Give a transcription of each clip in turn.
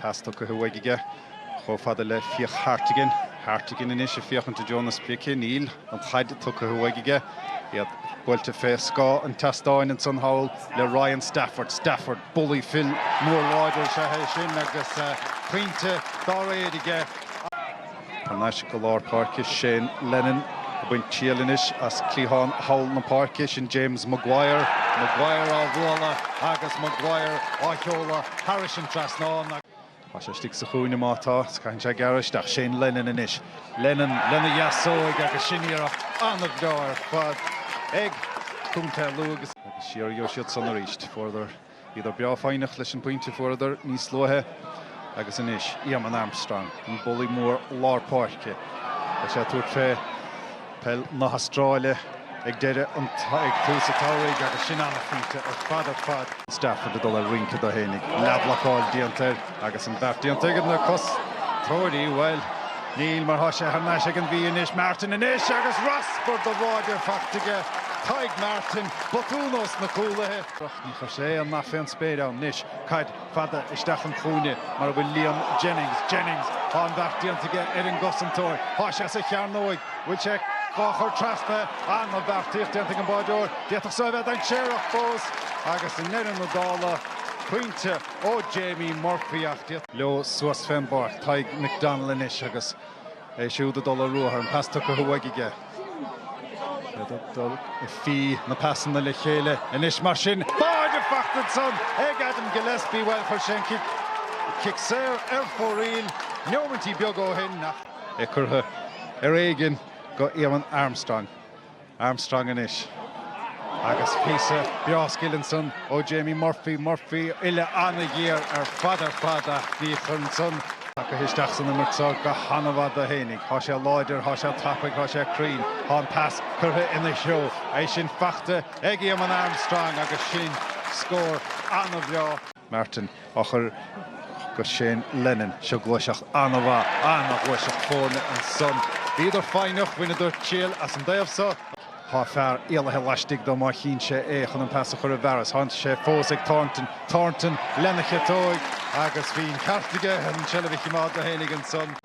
Pas tugtha uaidh aige chomh fada le Fiach Hartigan. Hartigan anois ag féachaint i dtreo na sprice. Níl an chaid tugtha uaidh aige. Iad buailte fé scáth an tseastáin ansan thall le Ryan Stafford. Stafford, bulaí fir mór láidir is ea é sin agus pointe dá réir aige. Thar n-ais go lár páirce, Shane Lennon ag baint triail anois as cliathán thall na páirce, sin James Maguire. Maguire á bhualadh agus Maguire á sheoladh thairis an trasnán. Tá sé istigh sa chúinne, má tá, is caitheann sé gearradh isteach, Shane Lennon anois. Lennon lena dheasóig agus sin iarracht an-bhreá ar fad ag Contae Lú agus siar a gheobhadh siad san arís. Fuaireadar. Bhíodar breá foighneach leis an bpointe a fuaireadar níos luaithe agus anois, Eamonn Armstrong, an bulaí mór lár páirce, beidh sé ag tabhairt fé peil na hAstráile ag deireadh an, ag tús an tsamhraidh agus sin an-phointe ar fad ar fad. Stafford ag dul ag rince dó fhéinig, leathbhlocáil déanta air agus an beart déanta ag na cosantóirí, bhuel, níl mar tá sé thar n-ais ag an Mhí anois, Martin anois agus raspar do bháide faighte aige, Tadhg Martin, botún ós na cúlaithe. Droch ndíograis é an nath fén spéir ann anois. Caid fada isteach an chúinne mar a bhfuil Liam Jennings. Jennings! Tá an bheart déanta aige ar an gcosantóir. Tá sé sa chearnóig! Bhfuil sé dhá chur trasna? An-bheartaíocht déanta ag an báireoir. D'fhéadfadh so a bheith dainséarach fós agus i ndeireadh na dála, pointe ó Jamie Murphy ach d'fhéad. leo suas fén bpáirc. Tadhg McDonnell anois agus. é siúd ag dul ar ruathar, an pas tugtha uaidh aige. Iad ag dul ag fí na pasanna le chéile anois mar sin. Báide fachta ansan ag Adam Gillespie, bhuel, chuir sé an cic, cic saor ar fóraoil neomaintí beaga ó shin ach. É curtha, ar éigin, go Eamonn Armstrong. Armstrong anois. Agus píosa breá scil ansan ó Jamie Murphy. Murphy uille an-ghéar ar fad ar fad ach ní chuireann san. Tagaithe isteach san imirt seo go han-mhaith dó fhéinig. Thá sé láidir, thá sé tapaidh, thá sé cruinn. Thá an pas curtha ina threo. É sin fachta ag Éamonn Armstrong agus sin scór an-bhreá. Martin, á chur go Shane Lennon. Seo gluaiseacht an-mhaith, an-ghluaiseacht foirne ansan. Bhíodar foighneach, bhaineadar triail as an dtaobh so. Tá fear éalaithe laistigh dó má chíonn sé é chun an pas a chur i bhfearas. Thánn sé fós ag Thornton. Thornton, lena chiotóig, agus bhí an ceart aige, an tseilbh a chimeád dó fhéinig ansan.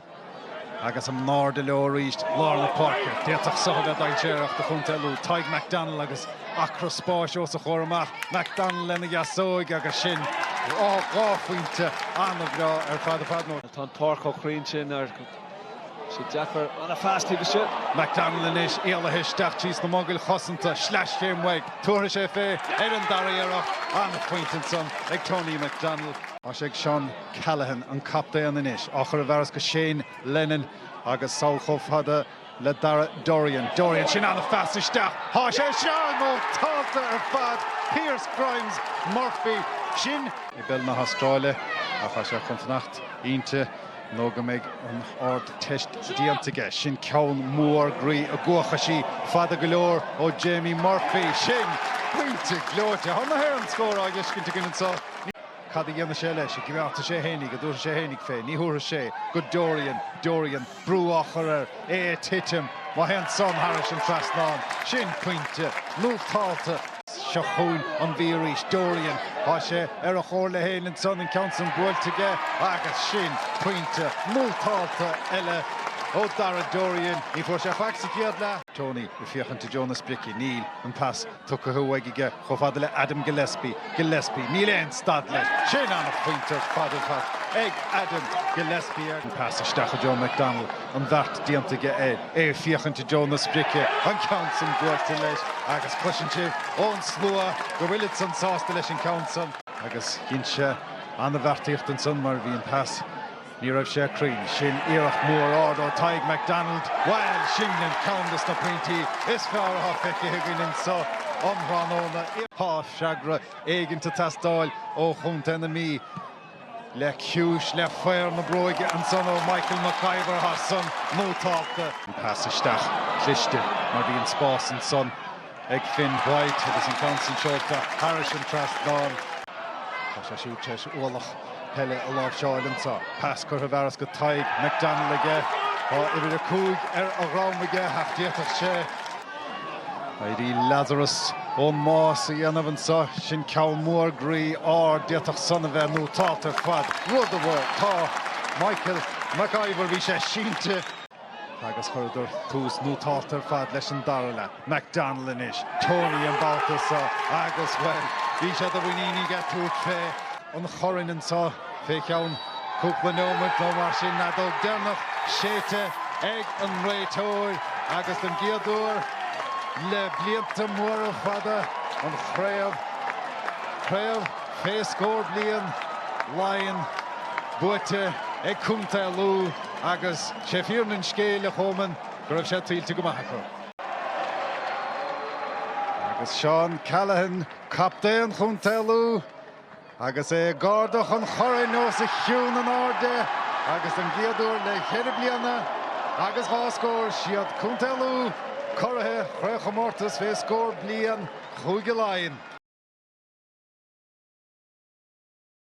Agus in airde leo arís, lár na páirce. D'fhéadfadh seo a bheith dainséarach do Chontae Lú. Tadhg McDonnell agus acra spáis os a chomhair amach. McDonnell lena dheasóig agus sin dhá phointe an-bhreá ar fad ar fad. Tá an páirc chomh cruinn sin go mbeadh sé deacair ana fhas taobh istigh. McDonnell anois éalaithe isteach tríd na mogaill chosanta. Sleaschéim uaidh. Tabharfaidh sé fé ar an dara iarracht. An-phointe ansan ag Tony McDonnell. Tá sé ag Seán. Callaghan, an captaen anois, á chur i bhfearas go Shane Lennon agus sall chomh fada le Darragh Dorian. Dorian, sin an-phas isteach, thá san nótálta ar fad! Pearse Grimes Murphy, sin. i bpeil na hAstráile ach thá sé chun fanacht inti nó go mbeidh an Ardteist déanta aige. Sin ceann mór groí a gcuachadh sí fada go leor ó Jamie Murphy. Sin pointe gleoite! Thá na hÉireann scór á dh'fheiscint againn anseo. Ní. Cad a dhéanfaidh sé leis? an ngearrfaidh sé fhéinig, an dtabharfaidh sé fhéinig fé, ní thabharfaidh sé, go Dorian, Dorian, brú á chur air, é ag titim, má théann san thairis an trasnán, sin pointe, nótálta. Seo chugainn an Mhí arís, Dorian, tá sé ar a chomhairle fhéin ansan, an ceann san buailte aige, agus sin pointe, nótálta eile ó Darragh Dorian, ní fuair sé faic sa chéad leath. Tony ag féachaint i dtreo na sprice, níl, an pas tugtha uaidh aige. Chomh fada le Adam Gillespie, Gillespie, níl aon stad leis, sin an-phointe ar fad fachta ag Adam Gillespie ar. Pas isteach i dtreo McDonnell, an bheart déanta aige é ag féachaint i dtreo na sprice, an ceann san buailte leis agus cloiseann sibh ón slua go bhfuil iadsan sásta leis an gceann san, agus dhein sé an-bheartaíocht ansan mar bhí an pas. Ní raibh sé cruinn. Sin iarracht mhór ard ó Tadhg McDonnell. Bhail, sin ceann des na pointí is fearr atá feicthe againn anseo um thráthnóna. Tá freagra éigint ag teastáil ó chontae na Mí le ciumhais le faobhar na bróige ansan ó Michael McIvor, tá san nótálta. Pas isteach cliste mar bhí an-spás ansan. ag Finn White agus an ceann sin seolta thairis an trasnán. Tá sé siúd tar éis ualach peile a láimhseáil anseo. Pas curtha i bhfearas go Tadhg McDonnell aige. Tá uimhir a cúig ar a dhroim aige ach d'fhéadfadh sé éirí Lazarus ón mbás a dhéanamh anseo. Sin ceann mór groí ard. D'fhéadfadh san a bheith nótálta ar fad. Rud a bhfuil, tá. Michael McIvor, bhí sé sínte. agus chuireadar tús nótálta ar fad leis an dara leath. McDonnell anois, Tony an babhta seo agus, bhuel, bhí sé de mhuinín aige tabhairt fé an chorn anseo fé cheann cúpla neomat nó mar sin, an fheadóg dheireanach séidte ag an réiteoir agus don gcéad uair le blianta móra fada an chraobh, craobh fé scór bliain, Laighean buaite ag Contae Lú. Agus sé fírinne an scéil, a Choman, go raibh sé tuillte go maith acu. Agus Seán Callaghan, captaen Chontae Lú, agus é ag ardú an choirn os a chionn in airde agus don gcéad uair le ceithre bliana agus dhá scór, siad Contae Lú curaidh chraobhchomórtas fé scór bliain Chúige Laighean.